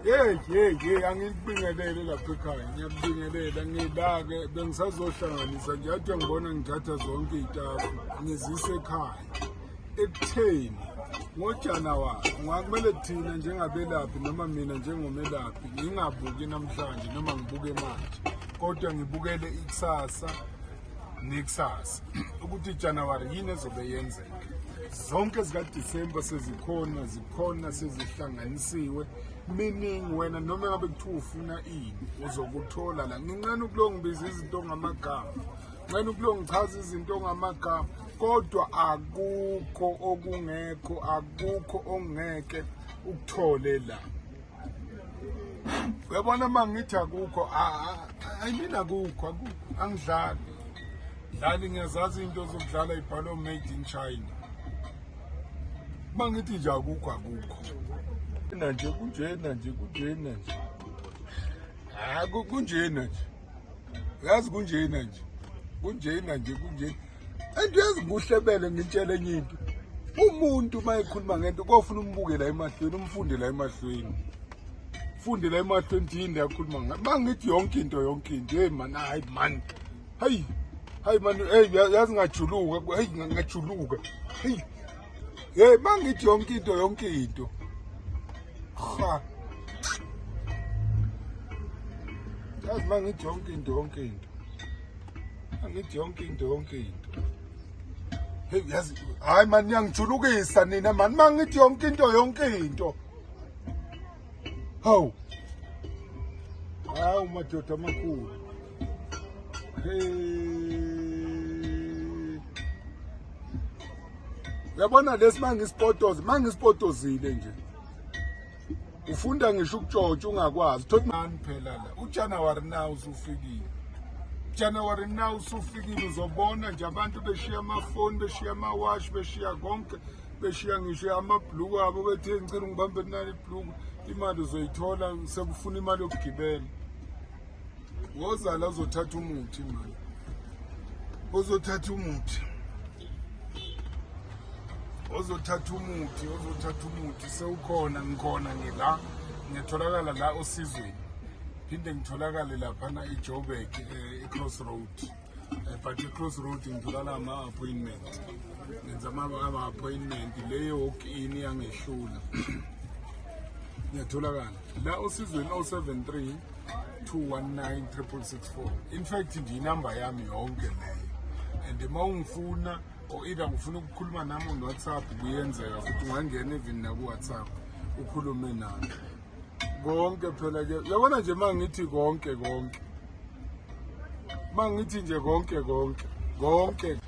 yeyi yeyi yeyi angikubingelele lapho ekhaya ngiyakubingelela ngila-ke bengisazohlanganisa nje ade ngibona ngithatha zonke iy'tafu ngizise ekhaya ekutheni ngojanuwari kungakumele thina njengabelaphi noma mina njengomelaphi ngingabuki namhlanje noma ngibuke manje kodwa ngibukele ikusasa nekusasa ukuthi ijanuwari yini ezobe yenzeka zonke zikadisemba sezikhona zikhona sezihlanganisiwe meaning wena noma ngabe kuthiwa ufuna ini uzokuthola la nginqena ukulongibiza izinto ngamagama nxena ukulongichaza izinto ngamagama kodwa akukho okungekho akukho ongeke ukuthole la uyabona uma ngithi akukho ayimini akukho angidlali dlali ngiyazazi into zokudlala ibhalo made in china uma ngithi nje akukho akukho nanje kunjena nje kunjena nje hayi kunjena nje uyazi kunjena nje kunjena nje kunjena and yazi kuhle bele ngitshele enye into umuntu uma ekhuluma ngento kofuna umbuke la emahlweni umfunde la emahlweni funde la emahlweni ukuthi yini yakhuluma ngayo uma ngithi yonke into yonke into heyi mani hayi mani hayi hayi mani heyi yazi ngajuluka heyi ngajuluka heyi Hey mangithi yonke into yonke into. Ha. Yazi mangithi yonke into yonke into. Angithi yonke into yonke into. Hey yazi hayi mani niyangijulukisa nina mani mangithi yonke into yonke into. Hawu. Hawu madoda amakhulu. yabona lesi mangisipotozile mangisipotozile nje ufunda ngisho ukutshotsha ungakwazi thothi mani phela la ujanuwari na usufikile January now usufikile uzobona nje abantu beshiya amafoni beshiya amawashi beshiya konke beshiya ngisho amabhluku abo bethi ngicela ngibambe nani ibhluku imali uzoyithola sekufuna imali yokugibela wozala uzothatha umuthi manje ozothatha umuthi ozothatha umuthi ozothatha umuthi sewukhona ngikhona ngila ngiyatholakala la osizweni phinde ngitholakale laphana ijobek eh, icross road eh, but i-cross road ngitholala ama-appointment ngenza ama-appointment le walk in yangehlula ngiyatholakala la osizweni 073 219 364 in fact nje inamba yami yonke leyo and uma ungifuna or either ngifuna ukukhuluma nami on whatsapp kuyenzeka futhi ungangena even naku-whatsapp ukhulume nami konke phela ke yabona nje uma ngithi konke konke uma ngithi nje konke konke konke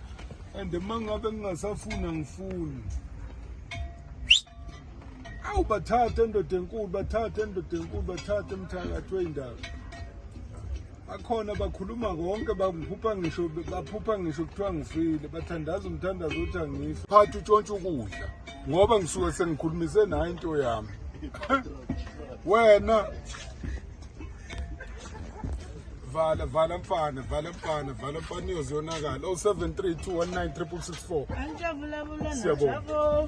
and uma ngabe ngingasafuna ngifuni awu bathathe endoda enkulu bathathe endoda enkulu bathathe emthakathi wey'ndaba bakhona bakhuluma konke baphupha ngisho baphupha ngisho kuthiwa ngifile bathandaza umthandazo othi angifi phathi utshontshe ukudla ngoba ngisuke sengikhulumise nayo into yami wena vala vala mfana vala mfana vala mfana iyoziyonakala 073 219 664 siyabonga